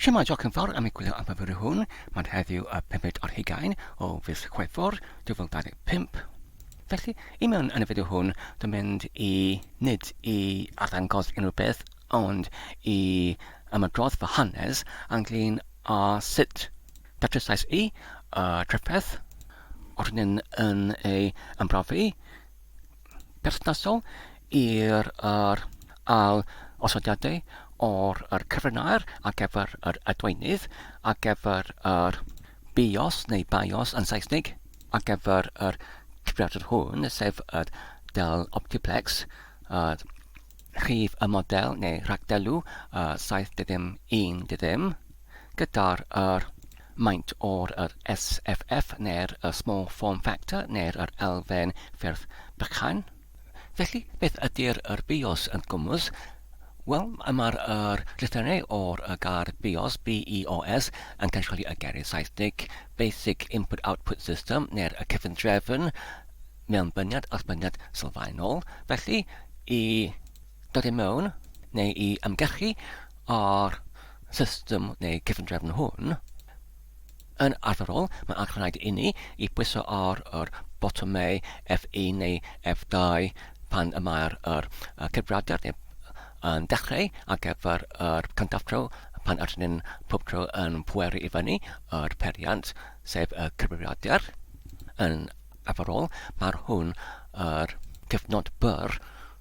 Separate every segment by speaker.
Speaker 1: Shwmae diolch yn fawr am egwyddor am y fideo hwn, mae'n heddiw y pumed ar hugain o fis Chwefror 2025. Felly, i mewn yn y fideo hwn, dwi'n mynd i nid i arddangos unrhyw beth, ond i ymadrodd fy hanes ynglyn â sut datrysiais i y trefferth ordnyn yn ei ymrofi berthnasol i'r yr ail osodiadau o'r yr cyfryn aer ar gyfer yr adweinydd ar gyfer yr bios neu bios yn Saesneg ar gyfer yr cyfrifiadur hwn sef y Dell Optiplex yr rhif y model neu rhagdelw y 7010 ddiddim gyda'r yr maint o'r yr SFF neu'r y small form factor neu'r yr elfen ffurf bychain. Felly, beth ydy'r yr bios yn gwmws? Wel, mae'r yr llythyrau o'r y gair bios, BEOS, yn cael chwilio y geiriau Saesnig Basic Input Output System neu'r y cyfundrefn mewnbyniad allbyniad sylfaenol. Felly, i dod i mewn neu i ymgechu o'r system neu cyfundrefn hwn, Yn arferol, mae'n rhaid inni i bwyso ar yr botymau F1 neu F2 pan y mae'r yr cyfrifiadur neu yn dechreu ar gyfer yr cyntaf tro pan ydyn ni'n pob tro yn pweru i fyny yr periant, sef y cyfrifiadur. Yn arferol, mae'r hwn yr cyfnod byr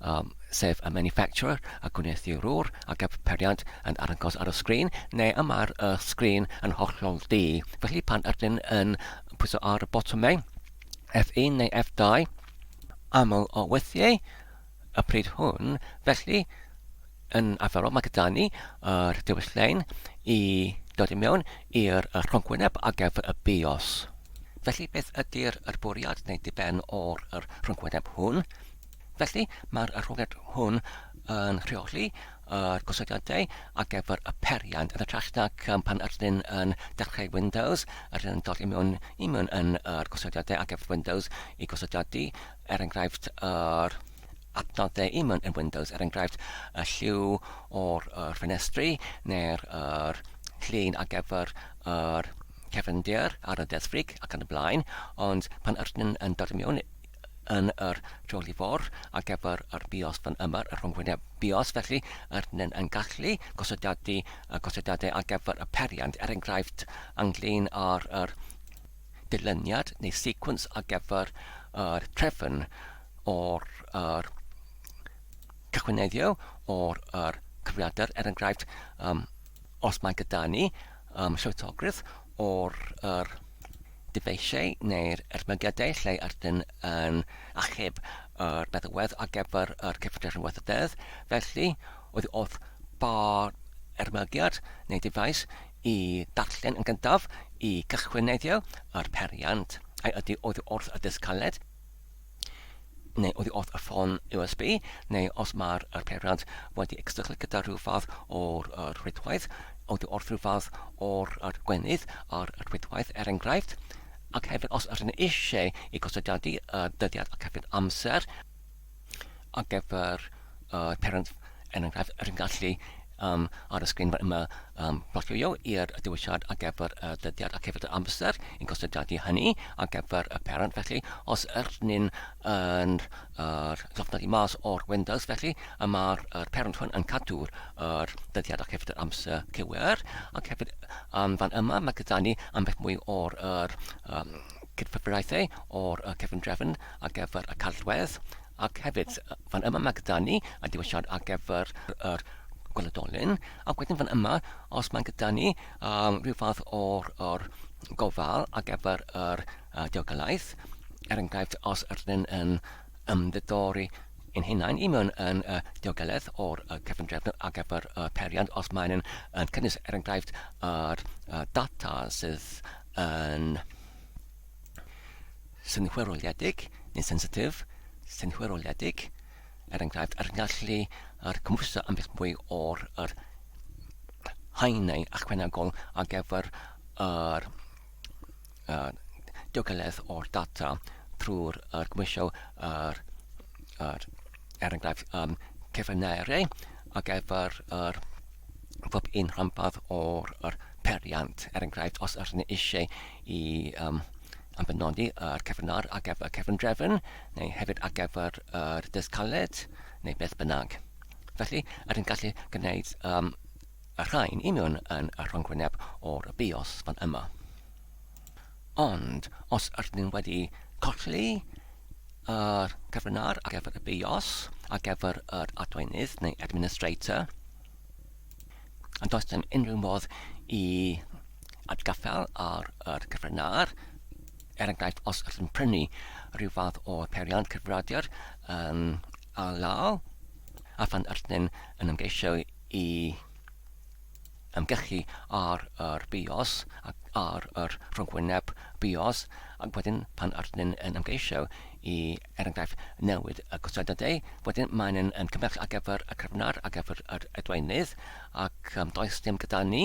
Speaker 1: um, sef y manufacturer, a gwneuthurwr, a darpariad yn arngos ar y sgrin, neu y mae'r y sgrin yn hollol du. Felly pan ydyn yn pwyso ar y botymau F1 neu F2, aml o weithiau y pryd hwn, felly yn arferol mae gyda ni yr dewis lein i dod i mewn i'r rhongwyneb ar gyfer y BIOS. Felly beth ydy'r bwriad neu diben o'r rhongwyneb hwn? Felly, mae'r arholiad hwn yn rheoli yr gosodiadau ar gyfer y peiriant yn hytrach nac pan yr ydyn yn dechrau Windows, yr ydyn yn dod i mewn i mewn yn yr gosodiadau ar gyfer Windows i gosodiadu, er enghraifft, yr adnoddau i mewn yn Windows, er enghraifft, y lliw o'r yr ffenestri neu'r yr llun ar gyfer yr cefndir ar y desfrig ac yn y blaen, ond pan yr ydyn yn dod i mewn yn yr Jolly Four ar gyfer yr bios fan yma, y rhyngwyneb bios, felly yr nen yn gallu gosodiadu y gosodiadau ar gyfer y periant, er enghraifft, ynglyn ar yr dilyniad neu sequence ar gyfer yr trefn o'r yr cychwyneddio o'r yr cyfriadr, er enghraifft, um, os mae gyda ni um, llwytogrwydd o'r yr Dyfeisiau neu'r ermygydau lle ydyn yn achub yr meddalwedd ar gyfer yr cyffredin weithrededd, felly, oddi wrth bo'r ermygiad neu ddyfais i ddarllen yn gyntaf i gychwyn neiddio yr periant, ai ydi oddi wrth y dysg caled, neu oddi wrth y ffôn USB, neu os mae'r er peiriant wedi cystadlu gyda rhyw fath o'r er rhwydwaith, oddi wrth rhyw fath o'r er gwenydd ar y rhwydwaith er enghraifft, ac hefyd os ydyn ni eisiau i gostodiadu y dyddiad ac hefyd amser ar gyfer uh, parent yn enghraifft rydyn gallu um, ar y sgrin yma um, plotio i'r dewisiad ar gyfer y dyddiad ac hefyd yr amser yn gostodiadu hynny ar gyfer y parent felly os yrnyn yn yr llofnodi mas o'r Windows felly y mae'r er parent hwn yn cadw'r er dyddiad ac hefyd yr amser cywir ac hefyd um, fan yma mae gyda ni ambell mwy o'r er, um, cydfyfriaethau o'r uh, cefn drefn ar gyfer y cadwedd Ac hefyd, fan yma mae gyda ni y diwylliant ar gyfer yr gweledolyn, ac wedyn fan yma, os mae'n gyda ni um, rhyw fath o'r, or gofal ar gyfer yr uh, diogelaeth, er enghraifft, os ydyn yn ymddidori yn hunain i mewn yn uh, diogelaeth o'r uh, cyfundrefn ar gyfer y uh, periant, os mae'n yn, yn cynnwys, er enghraifft, yr uh, data sydd yn synhwyroliedig neu sensitif, synhwyroliedig, er enghraifft, a'r gallu ar gymhwyso ambell bwy o'r yr haenau ychwanegol ar gyfer yr uh, diogeledd o'r data trwy'r er gymhwysio yr, yr er enghraifft um, cyfynere ar gyfer yr pob un rhanbarth o'r yr periant. Er enghraifft, os ydych chi'n eisiau i um, am benodi yr cyfynar ar gyfer cyfundrefn, neu hefyd ar gyfer yr dysg caled, neu beth bynnag. Felly, ydyn gallu gwneud um, y rhain union yn y rhongwyneb o'r bios fan yma. Ond os ydyn nhw wedi colli yr cyfrinair ar gyfer y BIOS, ar gyfer yr adweinydd neu administrator, a does dim unrhyw modd i atgaffael ar yr cyfrinair, er enghraifft os ydych yn prynu rhyw fath o peiriant cyfrifiadur um, a law, a phan ydyn yn ymgeisio i ymgyrchu ar yr bios ac ar yr rhyngwyneb bios ac wedyn pan ydyn yn ymgeisio i er enghraifft newid y costauddydau wedyn maen yn yn cymell ar gyfer y cryfnar ar gyfer yr edweinydd ac um, does dim gyda ni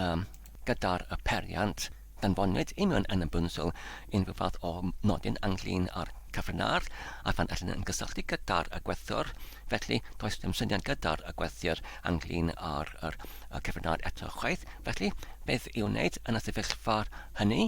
Speaker 1: um, gyda'r y periant Anfonwyd union yn y bwnsel unrhyw fath o nodyn ynglŷn â'r cyfrinair a phan allen nhw ymgysylltu gyda'r y gwerthwr, felly does dim syniad gyda'r y gwerthwr ynglŷn â'r yr y cyfrinair eto chwaith, felly beth i'w wneud yn y sefyllfa hynny?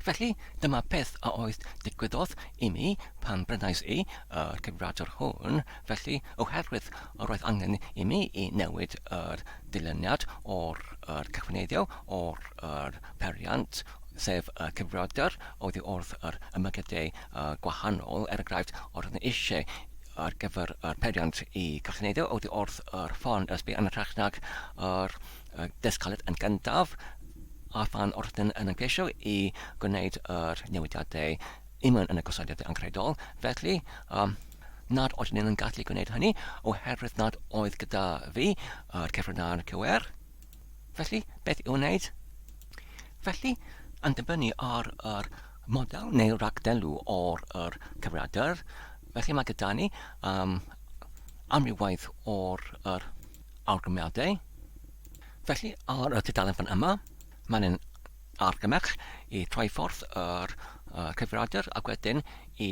Speaker 1: Felly, dyma beth a oedd digwyddodd i mi pan brynais i y cyfrifiadur hwn, Felly, oherwydd y roedd angen i mi i newid yr dyluniad o'r yr cyfneiddiau o'r yr peiriant, sef y cyfrifiadur oddi wrth yr ymyglydau yy gwahanol, er enghraifft, os roeddwn eisiau ar gyfer yr peiriant i gyfneiddio oddi wrth yr ffon ysbi yn hytrach nag yr yy dysgaliad yn gyntaf, a phan roeddwn yn ymgeisio i gwneud yr newidiadau i mewn yn y gosodiadau angenrheidiol, felly, yym, nad oeddwn i'n gallu gwneud hynny oherwydd nad oedd gyda fi yr cyfrina'r cywer. Felly, beth i'w wneud? Felly, yn dibynnu ar yr model neu ragdelw o'r yr cyfriadr, felly mae gyda ni um, amrywaith o'r yr argymiadau. Felly, ar y tudalen fan yma, mae'n yn argymell i troi ffordd yr uh, cyfriadr ac wedyn i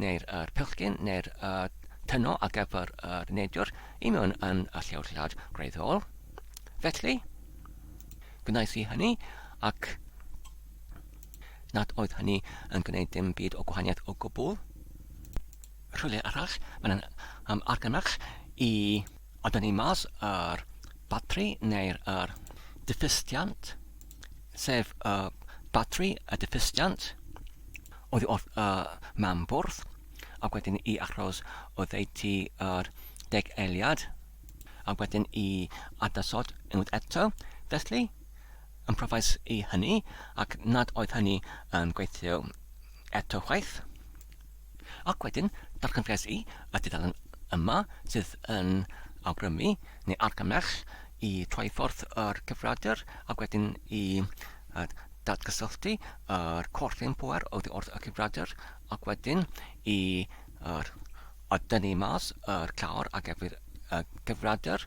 Speaker 1: neu'r yr pellgyn neu'r y tyno ar gyfer yr neidr i mewn yn y llewllad gwreiddiol. Felly, gwnaeth i hynny ac nad oedd hynny yn gwneud dim byd o gwahaniaeth o gwbl. Rhywle arall, mae'n um, argymell i odynnu mas yr batri neu'r yr diffystiant sef y batri, y diffystiant, oddi wrth y mam bwrdd, ac wedyn i achos oddeutu yr deg eiliad, ac wedyn i adasod unwaith eto, felly, yn profais i hynny, ac nad oedd hynny yn gweithio eto chwaith. Ac wedyn, darganfyddes i y dudalen yma sydd yn awgrymu, neu argymell, i troi ffordd yr cyfrifiadur ac wedyn i datgysylltu yr corff ein pŵer oddi wrth y cyfrifiadur ac wedyn i dynnu mas yr clawr ar gyfer y cyfrifiadur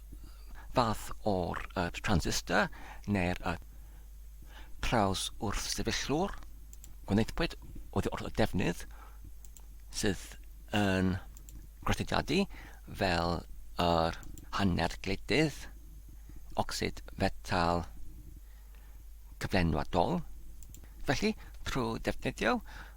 Speaker 1: fath o'r transistor neu'r trawswrthsefyllwr, gwnaethpwyd oddi wrth y defnydd sydd yn groesediadu fel yr hanner gledydd, ocsid fetal cyflenwadol. Felly, trwy ddefnyddio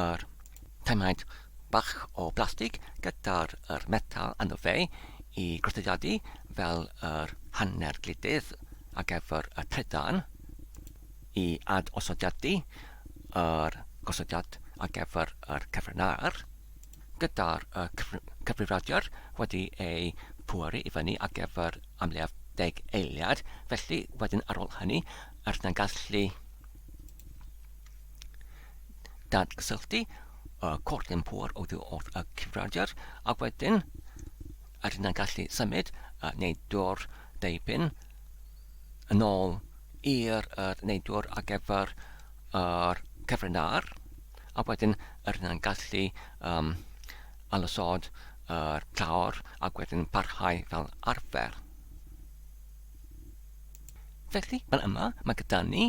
Speaker 1: yr taemhaint bach o blastig gyda'r yr metal yno fe i groddediadu fel yr hanner gludydd ar gyfer y trydan i ad osodiadu yr gosodiad ar gyfer yr cyfrinair gyda'r y cyfrifradiwr wedi ei pwaru i fyny ar gyfer amlaf deg eiliad felly wedyn ar ôl hynny yr yna'n gallu dadgysylltu y cwrt yn pŵer oddi wrth y cyfrifiadur ac wedyn yr yna gallu symud neu dwr deipyn yn ôl i'r er, neu dwr ar gyfer yr cyfrinair ac wedyn yr yna gallu um, alysod yr clawr ac wedyn parhau fel arfer. Felly, fel yma, mae gyda ni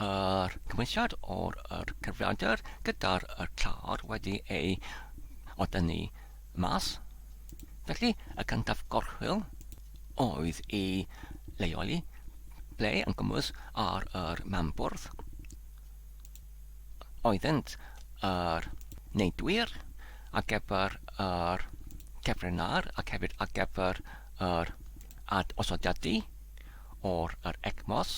Speaker 1: yr cymwysiad o'r yr cyfrifiadur gyda'r yr clawr wedi ei oda ni mas. Felly, y cyntaf gorchwyl oedd i leoli ble yn gwmwys ar yr mambwrdd oeddynt yr neidwyr ar gyfer yr cefrenar ac hefyd ar gyfer yr Add osodiadau o'r yr ECMOS.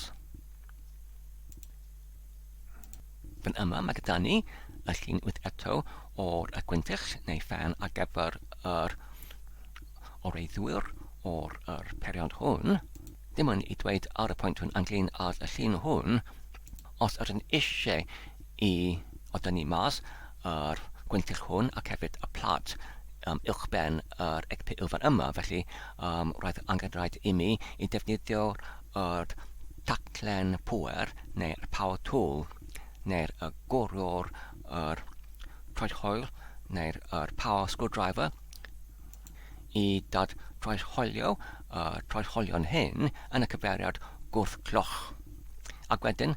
Speaker 1: Fan yma mae gyda ni y llun wyth eto o'r y gwyntych neu ffan ar gyfer yr oreiddwyr o'r yr period hwn. Dim ond i dweud ar y pwynt hwn ynglyn â'r y llun hwn, os ydyn eisiau i odynu mas yr gwyntyll hwn ac hefyd y plât um, uwchben yr egpu ylfan yma. Felly um, roedd angen rhaid i mi i defnyddio yr taclen pŵer neu y power tool neu'r y gwrwr yr troed hoel neu'r yr power screwdriver i dad troed hoelio y troed hoelion hyn yn y cyfeiriad gwrth cloch. Ac wedyn,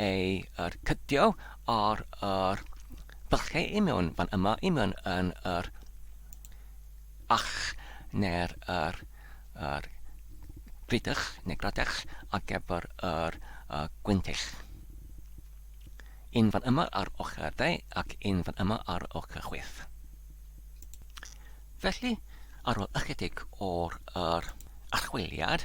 Speaker 1: ei cydio ar yr bylchau i mewn fan yma, i mewn yn yr ach neu'r yr, yr gridych neu gradech ar gyfer yr uh, gwyntill. Un fan yma ar ochr de ac un fan yma ar ochr chwith. Felly, ar ôl ychydig o'r yr archwiliad,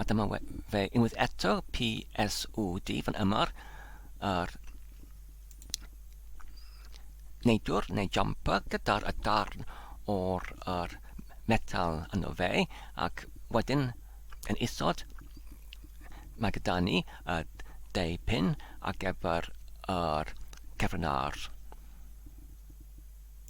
Speaker 1: A dyma fe unwaith eto, PSUD, fan ymor, yr neidwr neu jumper gyda'r y darn o'r yr metal yno fe ac wedyn yn isod mae gyda ni y deu pin ar gyfer yr cefn ar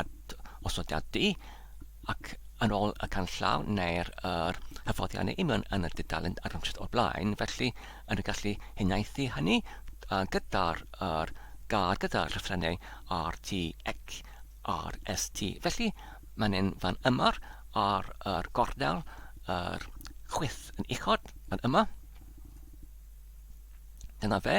Speaker 1: at osodiadu ac yn ôl y canllaw neu'r yr hyfforddiannau union yn y dudalen argymhelliad o'r blaen, felly yn y gallu huniaethu hynny gyda'r yr gar gyda'r llythrennau RT ac RST. Felly mae'n un fan yma ar yr gornel yr chwith yn uchod fan yma. Dyna fe.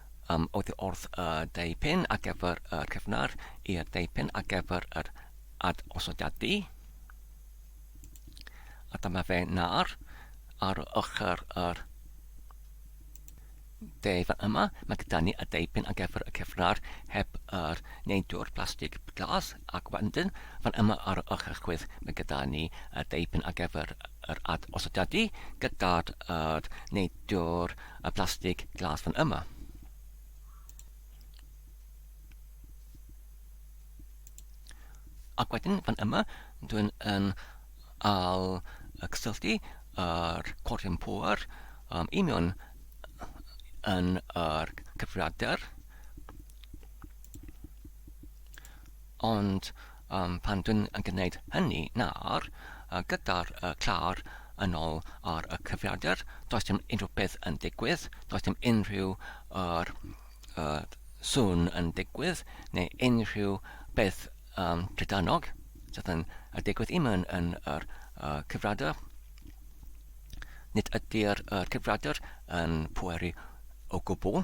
Speaker 1: Am oddi wrth y deupen ar gyfer y cyfnod i'r deupen ar gyfer yr adosodiadu. A dyma fe nawr ar ochr yr de fan yma, mae gyda ni y deupen ar gyfer y cyfnod heb yr neidwr plastig glas ac wedyn fan yma ar ochr chwith mae gyda ni y deupen ar gyfer yr adosodiadu gyda'r neidwr y plastig glas fan yma. Ac wedyn fan yma, dwi'n yn al y cysylltu yr cordyn pŵer um, i mewn yn yr cyfriadur. Ond Ond pan dwi'n gwneud hynny nawr, gyda'r clawr yn ôl ar y cyfrifiadur, does dim unrhyw beth yn digwydd, does dim unrhyw yr sŵn yn digwydd, neu unrhyw beth um, trydanog sydd yn digwydd i mewn yn yr cyfrifiadur. Nid ydy'r cyfrifiadur yn pweru o gwbl.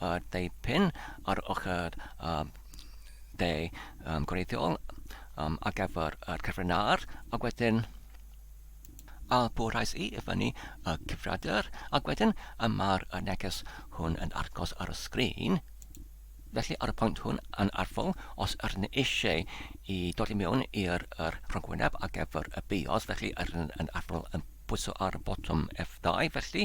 Speaker 1: a dipyn ar ochr y de um, gwreiddiol um, ar gyfer y cyfrin ar, ac wedyn a bwrhais i i fyny y cyfriadur, ac wedyn y mae'r neges hwn yn argos ar y sgrin. Felly ar y pwynt hwn yn arfol, os yr yn eisiau i dod i mewn i'r er rhagwyneb ar gyfer y bios, felly yr yn arfol yn pwyso ar y botwm F2, felly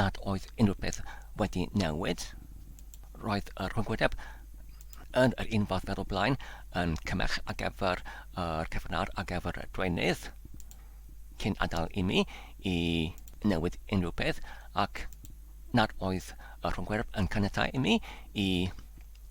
Speaker 1: nad oedd unrhyw beth wedi newid. Roedd y rhyngwyneb yn yr un fath fel o blaen, yn cymell ar gyfer yr cyfrnad ar gyfer y dwenydd, cyn adael i mi i newid unrhyw beth, ac nad oedd y rhyngwyneb yn caniatáu i mi i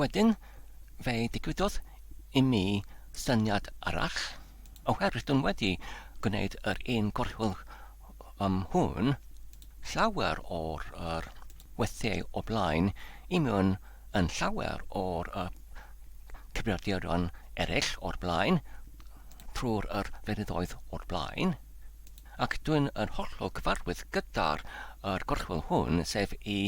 Speaker 1: Wedyn, fe ddigwyddodd i mi syniad arall, oherwydd dwn wedi gwneud yr un gorchwyl ym hwn llawer o'r yr weithiau o blaen i mewn yn llawer o'r y cyfrifiaduron eraill o'r blaen, trwy'r yr fyryddoedd o'r blaen. ac dwyn yn hollol gyfarwydd gyda'r yr gorchwyl hwn, sef i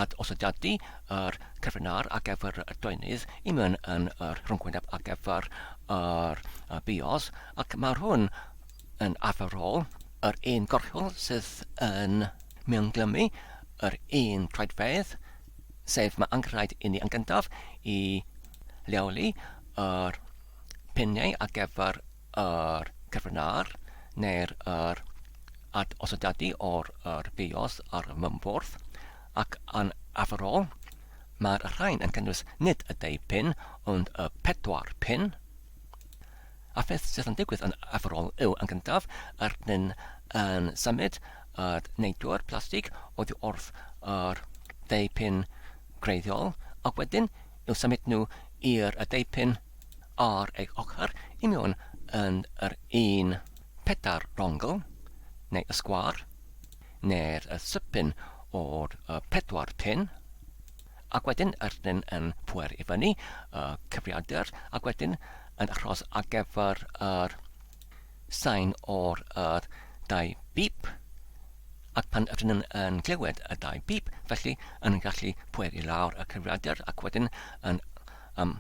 Speaker 1: ad-osodiadu yr cyfrinair ar gyfer y doenydd i mewn yn yr rhwngwyneb ar gyfer yr y bios, ac mae'r hwn yn arferol yr un gorchwyl sydd yn mewnglymu yr un troedfedd, sef mae angenrhaid i ni yn gyntaf i leoli yr piniau ar gyfer yr cyfrnair neu'r yr ad os ydy o'r yr bios ar y mymfwrdd, ac yn arferol, mae'r rhain yn cynnwys nid y deu pin, ond y pedwar pin. A pheth sydd yn digwydd yn arferol yw yn gyntaf, yr nyn yn symud yr neidwr plastig oddi wrth yr deu pin greiddiol, ac wedyn i'w symud nhw i'r y deu pin ar ei ochr union yn yr un pedair rongl, neu y sgwâr, neu'r y sypyn o'r y pedwar pin, ac wedyn yr rhyn yn pwer i fyny, y cyfriadur, ac wedyn yn achros ar gyfer yr Sain o'r yr dau bîp, ac pan ydyn nhw'n yn clywed y dau bîp, felly yn gallu pweu i lawr y cyfrifiadur ac wedyn yn um,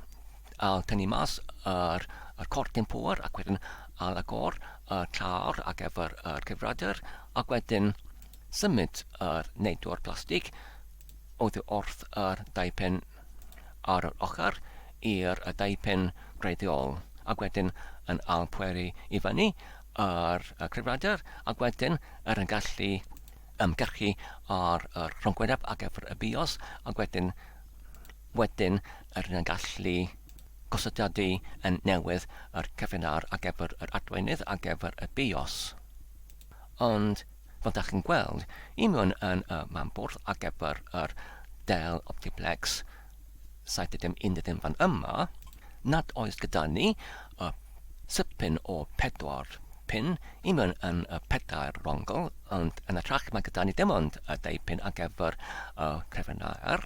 Speaker 1: al tynnu mas yr, yr cortyn pŵer ac wedyn al agor y car ac efo'r yr cyfrifiadur ac wedyn symud yr neidwr plastig oddi wrth yr dau pen ar yr ochr i'r deupen gwreiddiol, ac wedyn yn ail pweru i fyny ar y cyfrifiadur, ac wedyn er yn gallu ymgyrchu ar yr rhongwyneb ac gyfer y bios, ac wedyn wedyn er yn gallu gosodiadu yn newydd yr cyfrinair ar gyfer yr adweinydd ar gyfer y bios. Ond Fel dach chi'n gweld, union yn y man bwrdd ar gyfer yr Dell Optiplex 7011 fan yma, nad oes gyda ni y sipyn o pedwar pin union yn y pedair rongl, ond yn ytrach mae gyda ni dim ond y dau pin ar gyfer y crefynnau R.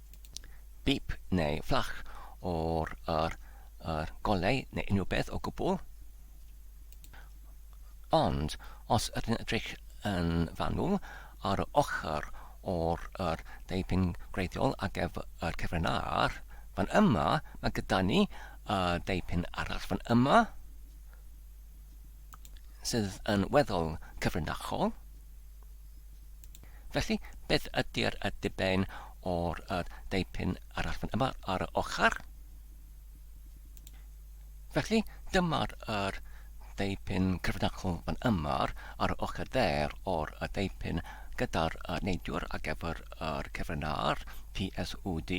Speaker 1: beep neu fflach o'r yr, yr golau neu unrhyw beth o gwbl. Ond os ydyn edrych yn fanwl ar y ochr o'r yr deipyn gwreiddiol ar gefr yr cyfren ar, fan yma mae gyda ni y deipyn arall fan yma sydd yn weddol cyfrinachol. Felly, beth ydy'r y diben o'r y deipyn arall fan yma ar y ochr? Felly, dyma'r yr deipyn cyfrinachol fan yma ar y ochr dde'r o'r y deipyn gyda'r y neidiwr ar gyfer yr cyfrina'r PSUD.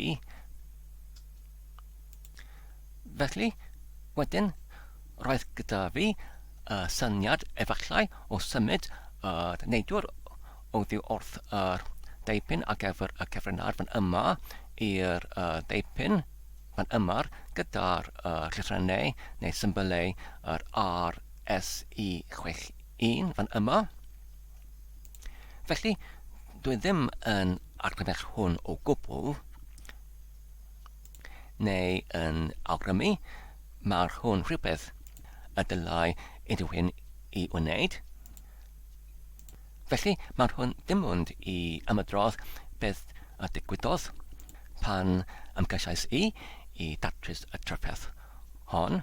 Speaker 1: Felly, wedyn, roedd gyda fi y syniad efallai o symud y neidwr oddi wrth yr deipyn ar gyfer y cyfrinair fan yma i'r deipyn fan yma gyda'r llythrennau neu symbylau yr RSE61 fan yma. Felly, dwi ddim yn argymell hwn o gwbl. neu yn awgrymu, mae'r hwn rhywbeth y dylai unrhywun i wneud. Felly, mae'r hwn dim ond i ymydrodd beth y digwyddodd pan ymgeisiais i i datrys y trafferth hon.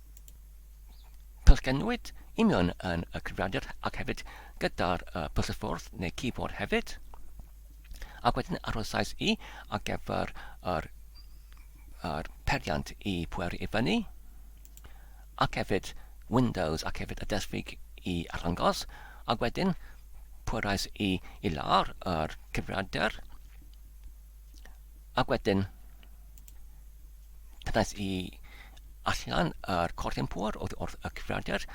Speaker 1: Pysgennwyd union yn y cyfrifiadur ac hefyd gyda'r uh, byssyffordd neu keyboard hefyd. Ac wedyn arhosais i ar gyfer yr, yr periant i pweru i fyny ac hefyd Windows ac hefyd y desfig i arddangos ac wedyn pwerais i i lawr yr cyfrifiadur Ac wedyn, cyrraedd i allan yr cordyn pŵer oedd wrth y cyfrifiadur,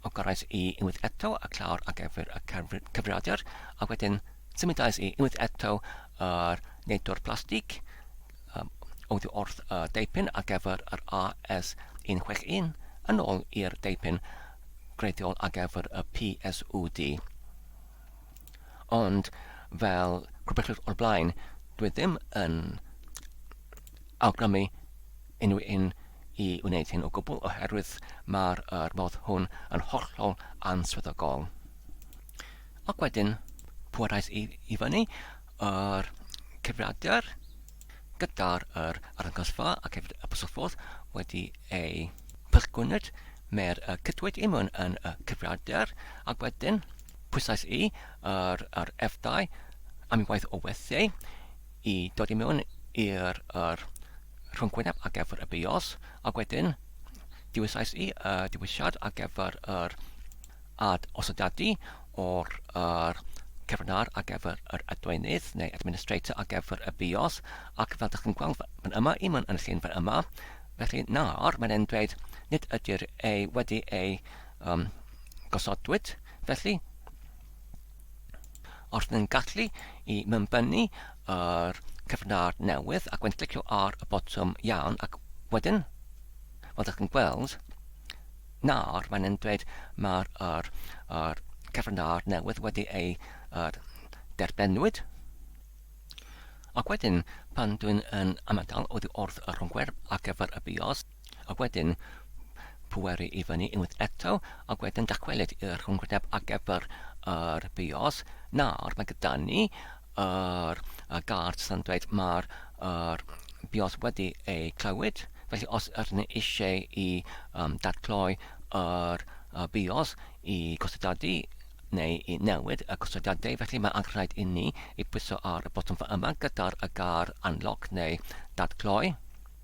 Speaker 1: o gyrraedd i unwaith eto y clawr ar gyfer y cyfrifiadur, a wedyn symudais i unwaith eto yr neidwr plastig um, oedd wrth y deipyn ar gyfer yr AS161 yn ôl i'r deipyn greiddiol ar gyfer y PSUD. Ond, fel gwybellwch o'r blaen, dw i ddim yn awgrymu unrhyw un i wneud hyn o gwbl oherwydd mae'r er modd hwn yn hollol answyddogol. Ac wedyn, pwerau i, i fyny, yr cyfrifiadur gyda'r er arddangosfa ac hefyd y bysylffodd wedi ei pysgwynyd, mae'r cydwyd imwn yn y cyfrifiadur, ac wedyn, Pwysais i ar yr F-dau am unwaith o werthiau i dod i mewn i'r er, rhwngwyneb ar gyfer y bios, ac wedyn dewisais i y dewisiad ar gyfer yr ad osodadu o'r er, cefnar ar gyfer yr adwenydd neu administrator ar gyfer y bios, ac fel dych chi'n gweld fan yma, i mewn yn y llun fan yma, felly nawr mae'n e'n dweud nid ydy'r ei wedi ei um, gosodwyd, felly os ydyn gallu i mymbynnu yr cyfnod newydd ac wedyn clicio ar y botwm iawn ac wedyn, fel ydych chi'n gweld, nawr mae'n yn dweud mae'r er, er cyfnod newydd wedi ei er, derbenwyd. Ac wedyn, pan dwi'n yn amodol oddi wrth y rhwngwyrdd ar gyfer y bios, Ac wedyn, pweru i fyny unwaith eto, ac wedyn dychwelyd i'r rhwngwyneb ar gyfer yr bios. Nawr, mae gyda ni yr y gard sy'n dweud mae'r yr bios wedi ei clywed, felly os ydyn ni eisiau i um, datgloi yr y bios i gostodadu neu i newid y gostodiadau, felly mae angen rhaid i ni i pwyso ar y botwm fa yma gyda'r y gar unlock neu datgloi.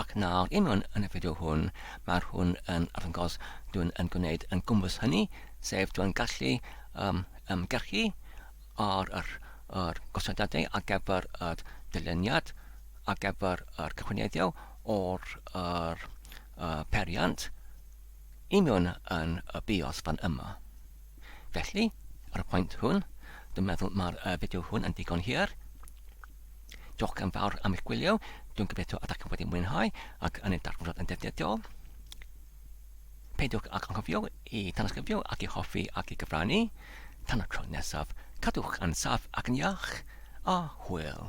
Speaker 1: Ac nawr, union yn y fideo hwn, mae'r hwn yn arddangos dwi'n yn gwneud yn gwmpas hynny, sef dwi'n gallu um, ymgyrchu ar yr, yr gosodiadau ar gyfer y dyluniad, ar gyfer yr cychwyneddiau o'r yr, uh, periant, union yn y bios fan yma. Felly, ar y pwynt hwn, dwi'n meddwl mae'r uh, fideo hwn yn digon hir. Diolch yn fawr am eich gwylio, dwi'n gobeithio ydych chi wedi mwynhau ac yn ei darganfod yn defnyddiol. Peidiwch ac anghofio i tanysgrifio ac i hoffi ac i gyfrannu. Tan y tro nesaf, cadwch yn saff ac yn iach, a hwyl!